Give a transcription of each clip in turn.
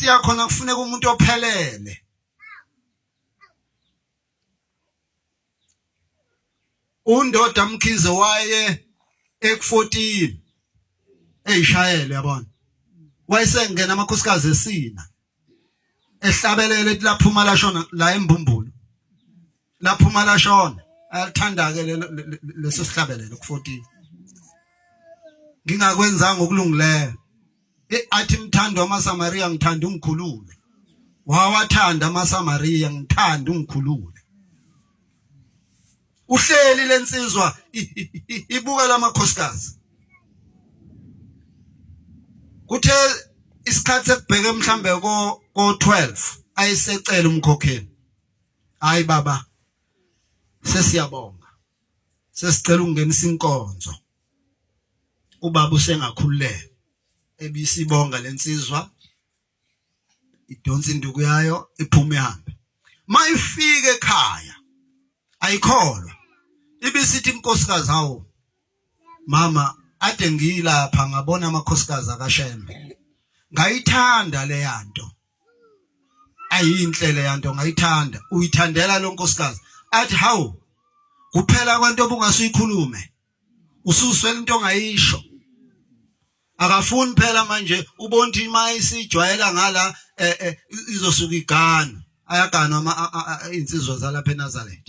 impact yakho nakufuneka umuntu ophelele undoda mkhize waye eku14 eyishayele yabona wayesengena amakhosikazi esina ehlabelele laphuma lashona la embumbulo laphuma lashona ayalithanda ke leso sihlabelelo ku14 ngingakwenzanga okulungileyo eh, athi mthando amaSamaria ngithanda ungikhulule wawathanda amaSamaria ngithanda ungikhulule uhleli lensizwa ibuka lamakhosikazi kuthe isikhathi sekubheke mhlambe ko 12 ayisecela umkhokheli Hayi baba. Sesiyabonga. Sesicela ukungenisa inkonzo. Ubaba usengakhululeka. Ebisibonga lensizwa idonsa induku yayo iphume ihambe. Mayifike ekhaya ayikholwa. Ibisithi inkosikazi hawo mama ade ngiyilapha ngabona amakhosikazi akashembe. Ngayithanda leyanto. ayinhle le yanto ngayithanda uyithandela lo nkosikazi athi hawu kuphela kwento obungasuyikhulume ususwela into ongayisho akafuni phela manje ubonthi imali sijwayela ngala eh, eh, izosuka igana ayaganwa insizwa zalapha eNazareth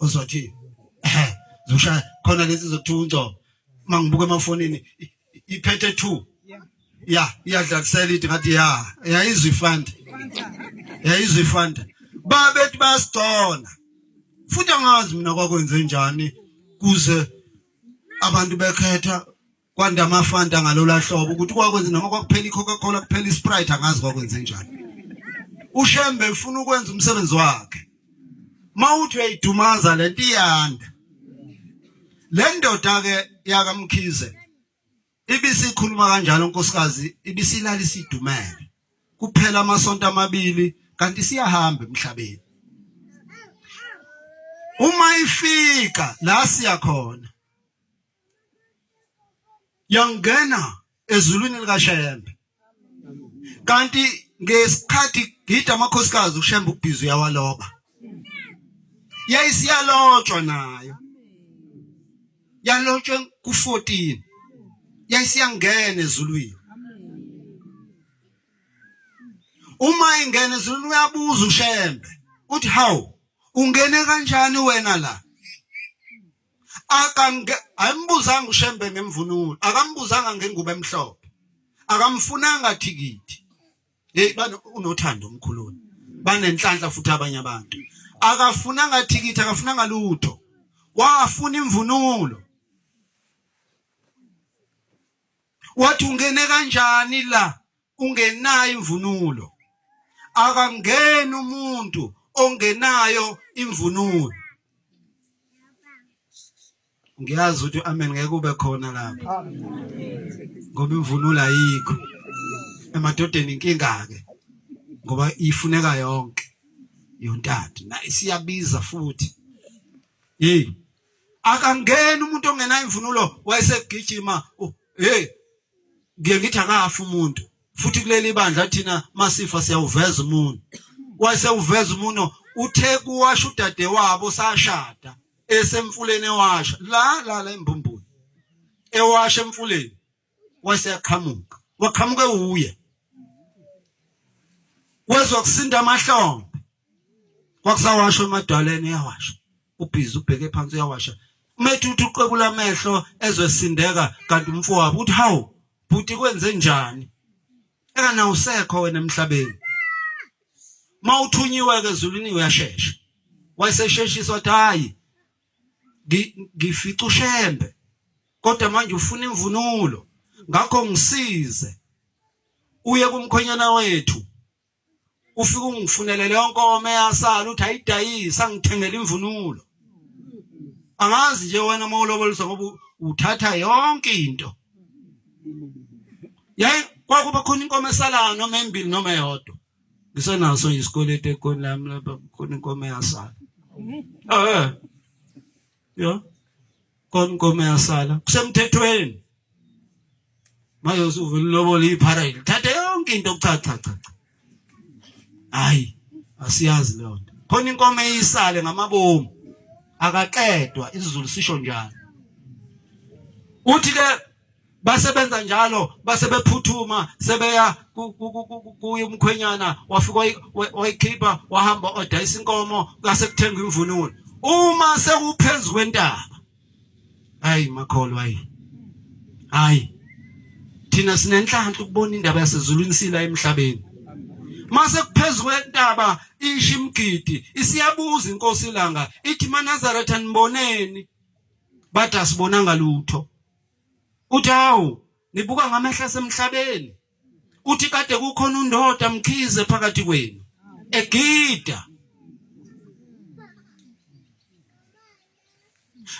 uzothi zosha khona lezi zokuthiwa ungco mangibuka emafonini iphethe 2 ya iyadlalisela ithi ngathi ya yayizwa ifanda yayizwa ifanda babethi bayasigcona futhi angazi mina kwakwenze njani kuze abantu bekhetha kwanda amafanta ngalola hlobo ukuthi kwakwenze noma kwakuphela icoca cola kuphela isprite angazi kwakwenze njani ushembe ufuna ukwenza umsebenzi wakhe mawuthi uyayidumaza lento iyanda le ndoda ke yakamkhize ibisikhuluma kanjalo nkosikazi ibisilala isidumele kuphela amasonto amabili kanti siyahamba emhlabeni uma ifika la siya khona yangena ezulwini likaShembe kanti ngesikhathi gida amakhosikazi uShembe ubhizi uyawaloba yayisiyalotshwa nayo yalotshwe ku14 yayisiyangena ezulwini uma ingena ezulwini uyabuza uShembe uthi hawu ungene kanjani wena la akange ayimbuzanga uShembe ngemvunulo akambuzanga ngengubo emhlophe akamfunanga thikithi hey bani unothando omkhuluni banenhlanhla futhi abanye abantu akafunanga thikithi akafunanga lutho wafuna imvunulo wathi ungene kanjani la ungenayo imvunulo akangeni umuntu ongenayo imvunulo ngiyazi ukuthi amen ngeke ube khona lapha ngoba imvunulo ayikho emadodeni inkinga ke ngoba ifuneka yonke yontata na isiyabiza futhi hey akangeni umuntu ongenayo imvunulo wayesegijima hey ngiye ngithi akafi umuntu futhi kuleli bandla thina masifa siyawuveza umuntu wase uveza umuno uthe kuwasha udade wabo sashada esemfuleni ewasha la la la embumbulu ewasha emfuleni wase yaqhamuka waqhamuke uye wezwa kusinda amahlombe kwakusawashwa emadwaleni uyawasha ubhizi ubheke phansi uyawasha umethi uthi uqwebula amehlo ezwesindeka kanti umfowabo uthi hawu bhuti kwenze njani engana usekho wena emhlabeni mawuthunyiwe ke ezulwini uyashesha wayesesheshisa wathi hayi ngifica ushembe kodwa manje ufuna imvunulo ngakho ngisize uye kumkhonyana wethu ufike ungifunele leyo nkomo eyasala uthi ayidayisa angithengele imvunulo angazi nje wena uma uloboliswa ngoba uthatha yonke into yaye kwakuba khona inkomo esalayo noma embili noma eyodwa ngisenaso nje isikweletu ekhoni lami lapha khona inkomo eyasala eh yo konkomo yasala kusemthethweni manje usuvela ulobola iphara lithathe yonke into cha cha cha hayi asiyazi leyo nto khona inkomo eyisale ngamabomu akaqedwa isizulu sisho njalo uthi ke basebenza njalo base bephuthuma sebeya kuye umkhwenyana wafika wayikhipha wahamba odayisa inkomo kase kuthenga imvunulo uma sewuphezu kwentaba hayi makholo hayi hayi thina sinenhlanhla ukubona indaba yasezulwini sila emhlabeni mase kuphezulu kwentaba ishi imgidi isiyabuza inkosi ilanga ithi manazaretha niboneni bathi asibonanga lutho uthi hawu nibuka ngamehla semhlabeni uthi kade kukhona undoda mkhize phakathi kwenu egida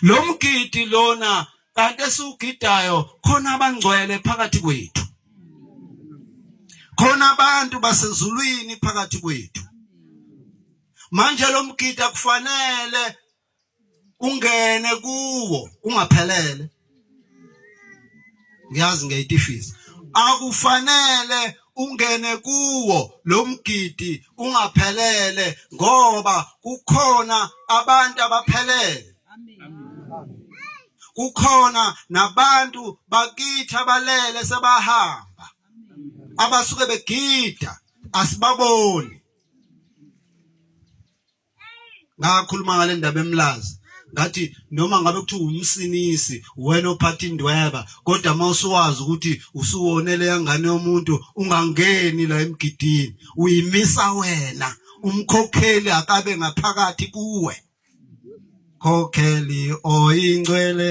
lo mgidi lona kanti esiwugidayo khona abangcwele phakathi kwethu khona abantu basezulwini phakathi kwethu manje lo mgidi akufanele ungene kuwo ungaphelele ngiyazi ngiyayitifisa akufanele ungene kuwo lomgidi ungaphelele ngoba kukhona abantu abaphelele kukhona nabantu bakithi abalele sebahamba abasuke begida asibaboni ngakhuluma ngale ndaba emlazi ngathi noma ngabe kuthiwa umsinisi wena ophatha indweba kodwa uma usuwazi ukuthi usuwonele yangane yomuntu ungangeni la emgidini uyimisa wena umkhokheli akabe ngaphakathi kuwe khokheli oyingcwele